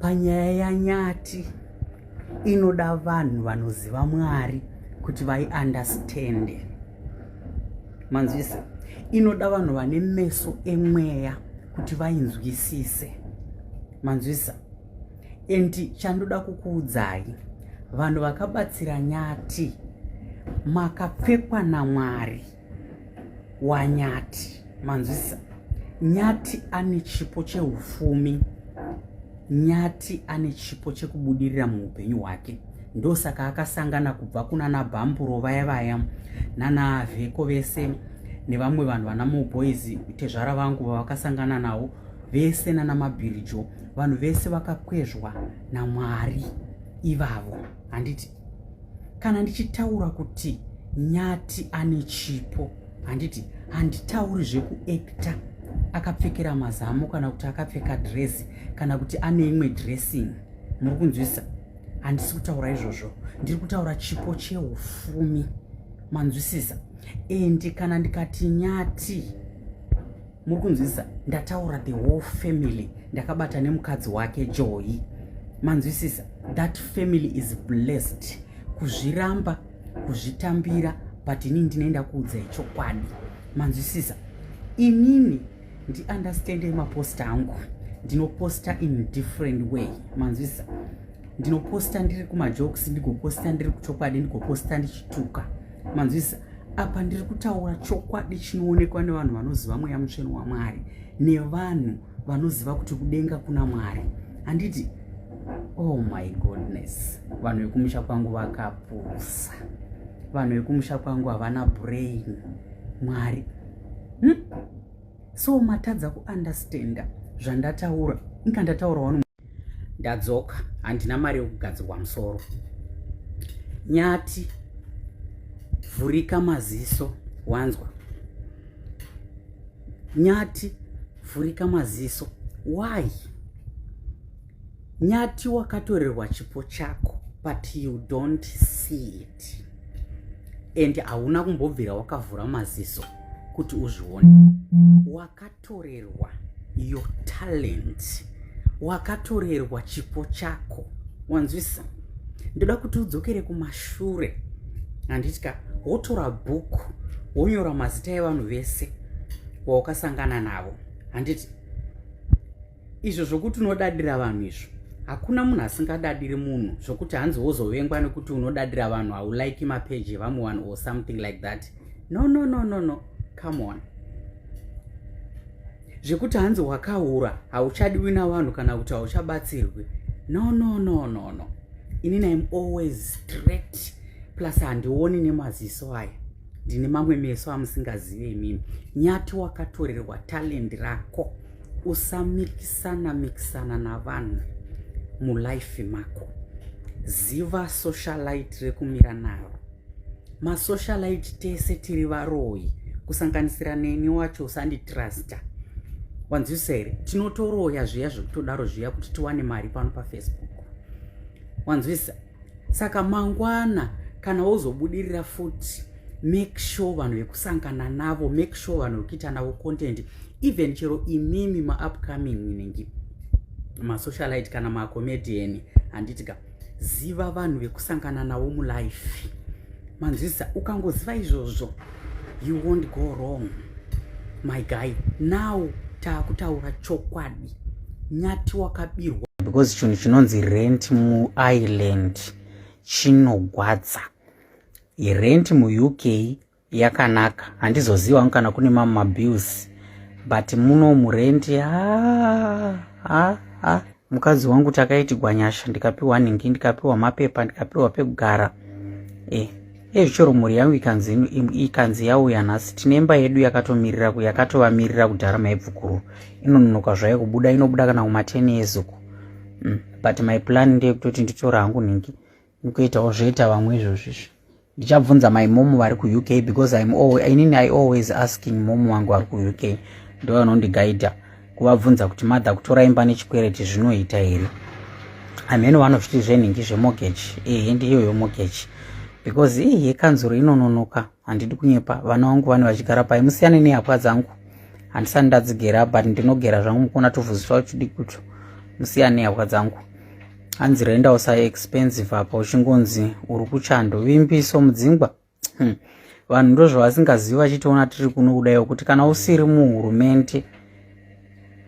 panyaya yanyati inoda vanhu vanoziva mwari kuti vaiundastande manzwisa inoda vanhu vane meso emweya kuti vainzwisise manzwisa endi chandoda kukuudzai vanhu vakabatsira nyati makapfekwa namwari wanyati manzwisa nyati ane chipo cheufumi nyati ane chipo chekubudirira muupenyu hwake ndosaka akasangana kubva kuna nabhamburo vaya vaya nana vheko vese nevamwe vanhu vana moboys tezvara vangu vavakasangana navo vese nana mabhirijo vanhu vese vakakwezvwa namwari ivavo handiti kana ndichitaura kuti nyati ane chipo handiti handitauri zvekuekta akapfekera mazamu kana kuti akapfeka dresi kana kuti ane imwe dressing muri kunzwisa handisi kutaura izvozvo ndiri kutaura chipo cheufumi manzwisisa endi kana ndikati nyati muri kunzwisisa ndataura the whole family ndakabata nemukadzi wake joyi manzwisisa that family is blessed kuzviramba kuzvitambira but inini ndinoenda kuudzai chokwadi manzwisisa inini ndiunderstande maposta angu ndinoposta in different way manzwisisa ndinoposta ndiri kumajokes ndigoposta ndiri kuchokwadi ndigoposta ndichituka manzwisa apa ndiri kutaura chokwadi chinoonekwa nevanhu vanoziva mweya mutsveni wamwari nevanhu vanoziva kuti kudenga kuna mwari handiti oh my goodness vanhu vekumusha kwangu vakapusa vanhu vekumusha kwangu havana brain mwari hmm? so matadza kuunderstanda zvandataura inga ndataura wanu ndadzoka handina mari yokugadzirwa musoro nyati vhurika maziso wanzwa nyati vhurika maziso why nyati wakatorerwa chipo chako but you don't see it and hauna kumbobvira wakavhura maziso kuti uzvione wakati torerwa your talent wakatorerwa chipo chako wanzwisa ndoda kuti udzokere kumashure handiti ka wotora bhuku wonyora mazita evanhu vese waukasangana navo handiti izvo zvokuti unodadira vanhu izvo hakuna munhu asingadadiri munhu zvokuti hanzi wozovengwa nekuti unodadira vanhu haulike mapeji evamwe vanhu or something like that no no no no no come on zvekuti hanzi wakahura hauchadiwi navanhu kana kuti hauchabatsirwi no no no no no ini naim always straight plus handioni nemaziso aya ndine mamwe meso amusingazive imimi nyati wakatorerwa talendi rako usamikisana mikisana navanhu mulife mako ziva socialite rekumira naro masocialite tese tiri varoyi kusanganisira neni wacho usanditrusta wanzwisa here tinotoroya zviya zvekutodaro zviya kuti tiwane mari pano pafacebook wanzwisa saka mangwana kana wozobudirira futi make sure vanhu vekusangana navo make sure vanhu vekuita navo content even chero imimi maupcoming inenge masocialite kana macomedian handiti ka ziva vanhu vekusangana navo mulife manzwisa ukangoziva izvozvo you won't go wrong my guy now taakutaura chokwadi nyati wakabirwa because chinhu chinonzi rent muireland chinogwadza rent muuk yakanaka handizoziva wangu kana kune mamwe mabills but muno murent mukadzi wangu takaitigwa nyasha ndikapiwa nhingi ndikapiwa mapepa ndikapiwa pekugara e eh. Ezvi chero mhuri yangu ikanzi ikanzi yauya nhasi tine imba yedu yakatomirira yakatovamirira kudhara maibvukuru inononoka zvayo kubuda inobuda kana kumateni ezuku mm. but my plan ndeyekutoti nditora hangu nhingi ndikuitawo zvoita vamwe izvozvizvi ndichabvunza my mom vari kuuk because im always, inini i always asking mom wangu vari kuuk ndovanondigaidha kuvabvunza kuti mother kutora imba nechikwereti zvinoita here amheno vanozviti zvenhingi zvemortgage ehe ndiyoyo mortgage because ii yekanzuro inononoka handidi kunyepa vana vangu vane vachigara pai musiyane nehapwa dzangu handisani ndadzigera but ndinogera zvangu mukona tovhuziswa uchidi kuto musiyane nehapwa dzangu hanzi rendawo sa expensive apa uchingonzi uri kuchando vimbiso mudzingwa hmm. vanhu ndozvavasingazivi vachitiona tiri kuno kudaiwo kuti kana usiri muhurumende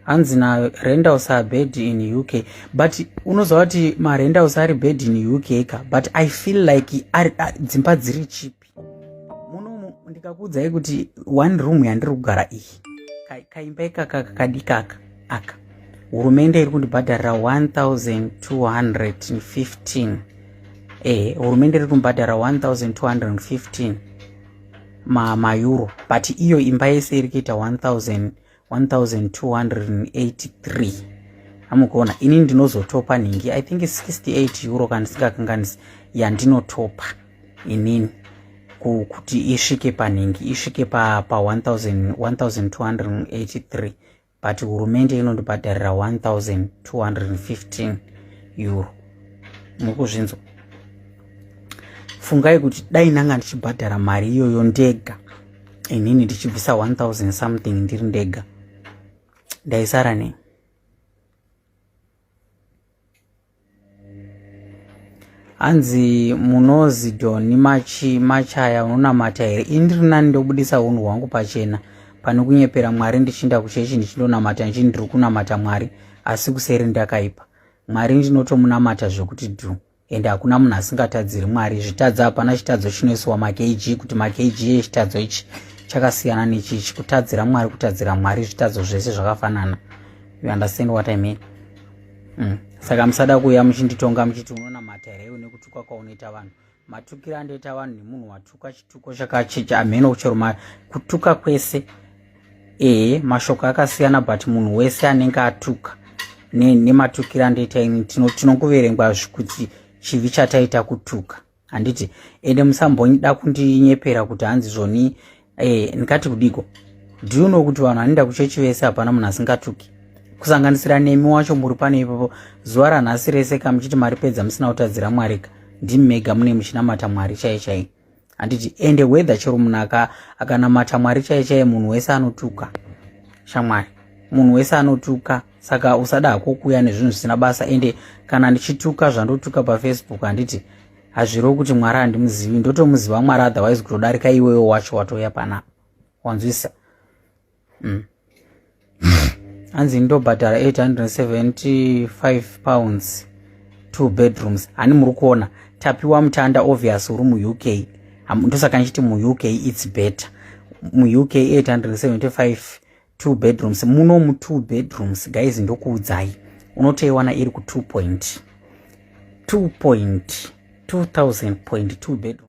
hanzi na rendals are bad in uk but unoziva kuti marendals ari bad in uk ka but i feel like dzimba dziri chipi munomu ndikakuudzai kuti one room yandiri kugara iyi kaimba ikaka kakadikaka aka hurumende iri kundibhadharira 1215 ehe hurumende iri kumbhadhara 1215 ma maeuro but iyo imba yese iri kuita 1283 amukuona ini ndinozotopa nhingi i think 68 euro kana ndisingakanganisi yandinotopa inini kuti isvike panhingi isvike pa, pa 1283 but hurumende inondibhadharira 1215 euro mukuzvinzwa fungai kuti dai ndanga ndichibhadhara mari iyoyo ndega inini ndichibvisa 1000 something ndiri ndega ndaisara nei hanzi munozi doni machi machaya unonamata here ini ndiri nani ndobudisa unhu hwangu pachena pane kunyepera mwari ndichiinda kuchechi ndichindonamata ndichini ndiri kunamata mwari asi kuseri ndakaipa mwari ndinotomunamata zvekuti dhu ende hakuna munhu asingatadziri mwari zvitadza hapana chitadzo chinoisiwa makg kuti makg echitadzo ichi chakasiyana nechichi kutadzira mwari kutadzira mwari zvitadzo zvese zvakafanana you understand what i mean mm. saka musada kuuya muchinditonga muchiti unonamata here unekutuka kwaunoita vanhu matukiro andoita vanhu nemunhu watuka chituko chakachicha hameno chero kutuka kwese ehe mashoko akasiyana but munhu wese anenge atuka nematukiro andoita ini tinokuverengwa kuti chivi chataita kutuka handiti ende musambonyida kundinyepera kuti hanzi zvoni eh, ndikati kudiko do you know kuti vanhu anoenda kuchechi vese hapana munhu asingatuki kusanganisira nemi wacho muri pane ipapo zuva ranhasi rese ka muchiti maripedza musina kutadzira mwarika ndimi mega mune muchinamata mwari chaiye chaiye handiti ende weather chero munhu aka akanamata mwari chaiye chaiye munhu wese anotuka shamwari munhu wese anotuka saka usada hako kuuya nezvinhu zvisina basa ende kana ndichituka zvandotuka pafacebook handiti hazvirewo kuti mwari handimuzivi ndotomuziva mwari otherwise kutodarika iwewo wacho watouya panapa wanzwisa mm. hanzi ndobhadhara 875 pounds two bedrooms hani muri kuona tapiwa mutanda obvious uri muuk ndosaka ndichiti muuk its better muuk 875 two bedrooms muno mu two bedrooms guys ndokuudzai unotoiwana iri ku 2 point 2 point 2000 point 2 bedroom